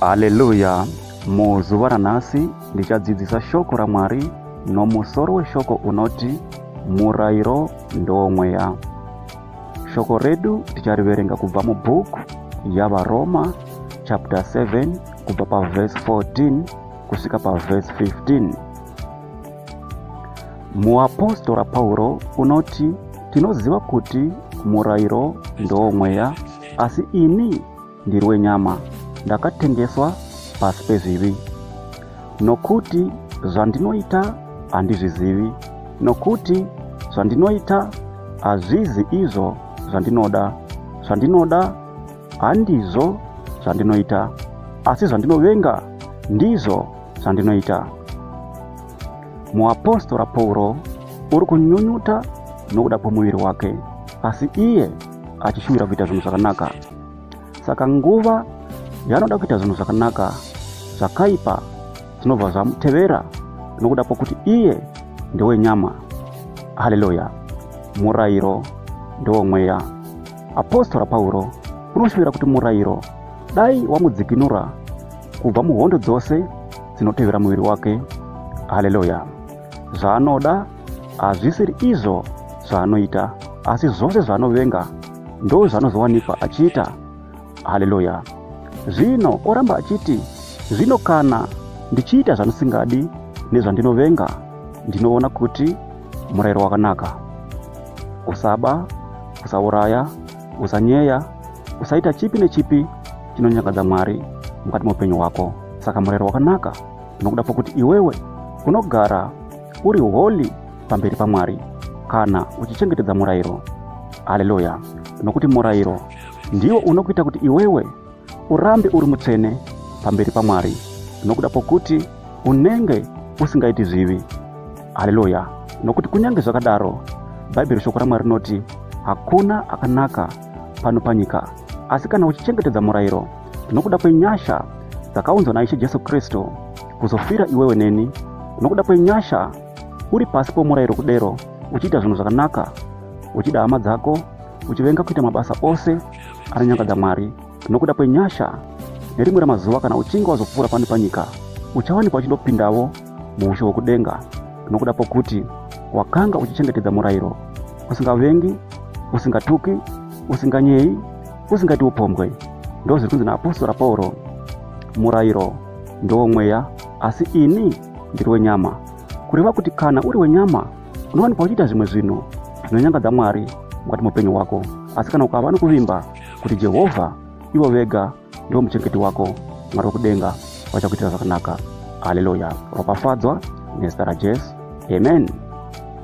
Haleluya! Muzuva ranhasi ndichadzidzisa shoko raMwari nomusoro weshoko unoti murairo ndowomweya. Shoko redu tichariverenga kubva mubhuku yaVaroma chapter 7 kubva pavhesi 14 kusvika pavhesi 15. Muapostora Pauro unoti tinoziva kuti murairo ndowomweya asi ini ndiri wenyama ndakatengeswa pasi pezvivi nokuti zvandinoita handizvizivi nokuti zvandinoita hazvizi izvo zvandinoda zvandinoda handizvo zvandinoita asi zvandinovenga ndizvo zvandinoita muapostora pauro uri kunyunyuta nokuda kwomuviri wake asi iye achishuvira kuita zvinhu zvakanaka saka nguva yaanoda kuita zvinhu zvakanaka zvakaipa zvinobva zvamutevera nokuda kwokuti iye ndewenyama haleluya murayiro ndewomweya apostora pauro unoshuvira kuti murayiro dai wamudzikinura kubva muhondo dzose dzinotevera muviri wake haleluya zvaanoda hazvisiri izvo zvaanoita asi zvose zvaanovenga ndo zvaanozowanikwa achiita haleluya zvino oramba achiti zvino kana ndichiita zvandisingadi nezvandinovenga ndinoona kuti murayiro wakanaka usaba usauraya usanyeya usaita chipi nechipi chinonyangadza mwari mukati meupenyu hwako saka murayiro wakanaka nokuda kwokuti iwewe unogara uri holi pamberi pamwari kana uchichengetedza murayiro haleluya nokuti murayiro ndiwo unokuita kuti iwewe urambe uri mutsvene pamberi pamwari nokuda kwokuti unenge usingaiti zvivi haleluya nokuti kunyange zvakadaro bhaibheri shoko ramwari rinoti hakuna akanaka pano panyika asi kana uchichengetedza murayiro nokuda kwenyasha dzakaunzwa naishe jesu kristu kuzofira iwewe neni nokuda kwenyasha uri pasi pomurayiro kudero uchiita zvinhu zvakanaka uchida hama dzako uchivenga kuita mabasa ose anonyangadza mwari nokuda kwenyasha nerimwe ramazuva kana uchinge wazopfuura pano panyika uchawanikwa uchindopindavo muushe hwokudenga nokuda pokuti wakanga uchichengetedza murayiro usingavengi usingatuki usinganyeyi usingati upombwe ndozviri kunzi naapostora pauro murayiro ndowomweya asi ini ndiri wenyama kureva kuti kana uri wenyama unowanikwa uchiita zvimwe zvinhu zvinonyangadza mwari mukati muupenyu hwako asi kana ukava nokuvimba kuti jehovha ivo vega ndivo muchengeti wako mwari wekudenga vachakuitira zvakanaka haleluya ropafadzwa nezita rajesu amen